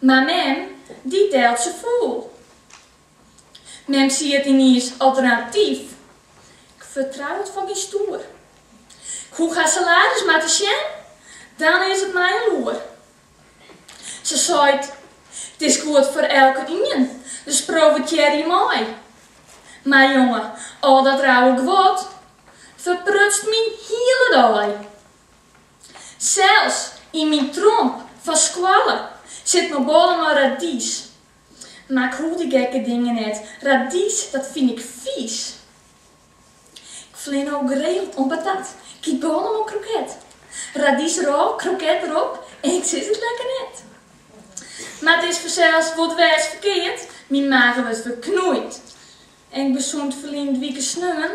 Mar mem, dy telt se fûl. Mem siedt yniens alternatyf. Ik fertrou it foar gjin stoer. Ik hoech har salades mar te sjen, dan is it my al oer. Se seit, It is goed foar elkenien, dus profitearje mei. Mar jonge, al dat rauwe guod ferprutst myn hiele dei. Sels yn myn tromp fan skoalle sit noch bôle mei radys. Mar 'k hoech dy gekke dingen net, radys dat fyn ik fiis. Ik flean no geregeld om patat, 'k yt bôle mei kroket. Radys derôf, kroket derop, en ik sis it lekker net. Mar it is fansels wol dwers ferkeard, myn mage wurdt ferknoeid. En ik besocht ferline wike sneon.